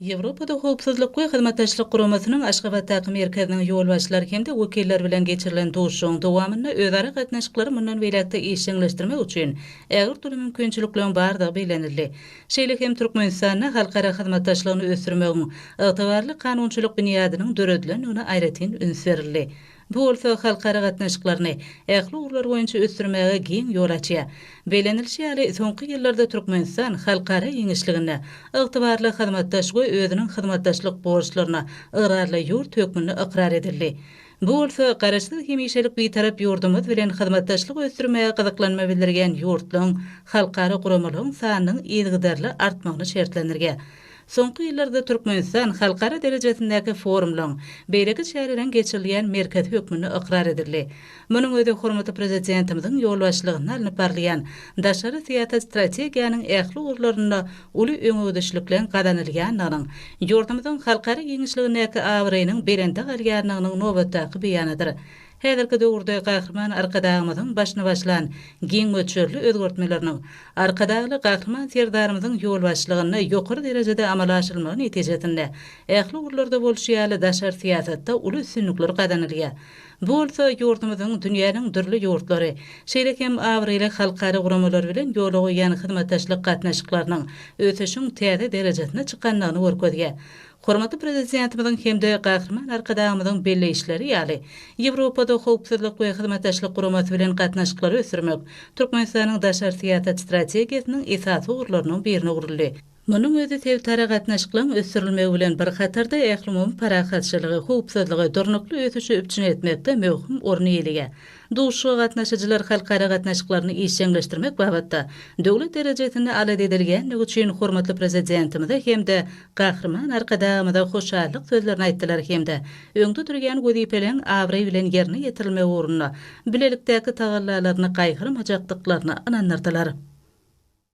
Ýewropada Howpsuzlyk we Hyzmatdaşlyk Guramasynyň Aşgabatdaky merkeziniň ýolbaşçylary hem-de wekilleri bilen geçirilen duşuşygyň dowamynda özara gatnaşyklary mundan beýläk-de işjeňleşdirmek üçin ägirt uly mümkinçilikleriň bardygy bellenildi. Şeýle hem Türkmenistanda halkara hyzmatdaşlygyny ösdürmegiň ygtybarly kanunçylyk binýadynyň döredilendigine aýratyn üns berildi. Bu bolsa halkara gatnaşyklaryny ähli ugurlar boýunça ösdürmäge giň ýol açýar. Bellenilişi ýaly, soňky ýyllarda Türkmenistan halkara giňişliginde ygtybarly hyzmatdaş we özüniň hyzmatdaşlyk borçlaryna ygrarly ýurt hökmünde ykrar edildi. Bu bolsa Garaşsyz, hemişelik Bitarap ýurdumyz bilen hyzmatdaşlygy ösdürmäge gyzyklanma bildirýän ýurtlaryň, halkara guramalygyň sanynyň yzygiderli artmagyny şertlendirýär. Soňky ýyllarda Türkmenistan halkara derejesindäki forumlaryň, beýleki çäreleriň geçirilýän merkezi hökmünde ykrar edildi. Munuň özi hormatly Prezidentimiziň ýolbaşçylygynda alnyp barylýan daşary syýasat strategiýanyň ähli ugurlarynda uly öňegidişlikligiň gazanylýandygynyň, ýurdumyzyň halkara giňişligindäki abraýynyň belende galýandygynyň nobatdaky beýanydyr. Häzirki döwürde Gahryman Arkadagymyzyň başyny başlan giň möçberli özgertmeleriniň, Arkadagly Gahryman Serdarymyzyň ýolbaşçylygynda ýokary derejede amala aşyrylmagy netijesinde, ähli ugurlarda bolşy ýaly, daşary syýasatda uly üstünlikler gazanylýar. Bu bolsa ýurdumyzyň dünýäniň dürli ýurtlary, şeýle hem abraýly halkara guramalary bilen ýola goýýan hyzmatdaşlyk gatnaşyklarynyň ösüşiň täze derejesine çykandygyny görkezýär. Hormatly Prezidentimiziň hem-de Gahryman Arkadagymyzyň belleýişleri ýaly, Ýewropada Howpsuzlyk we Hyzmatdaşlyk Guramasy bilen gatnaşyklary ösdürmek Türkmenistanyň daşary syýasat strategiýasynyň esasy ugurlarynyň birine öwrüldi. Munuň özi sebitara gatnaşyklaryň ösdürilmegi bilen bir hatarda, ählumumy parahatçylygy, howpsuzlygy, durnukly ösüşi üpjün etmekde möhüm orun eýeleýär. Duşuşyga gatnaşyjylar halkara gatnaşyklaryny işjeňleşdirmek babatda döwlet derejesinde alada edilýändigi üçin hormatly Prezidentimize hem-de Gahryman Arkadagymyza hoşallyk sözlerini aýtdylar hem-de öňde durýan wezipeleriň abraý bilen ýerine ýetirilmegi ugrunda bilelikdäki tagallalaryny gaýgyrmajakdyklaryna ynandyrdylar.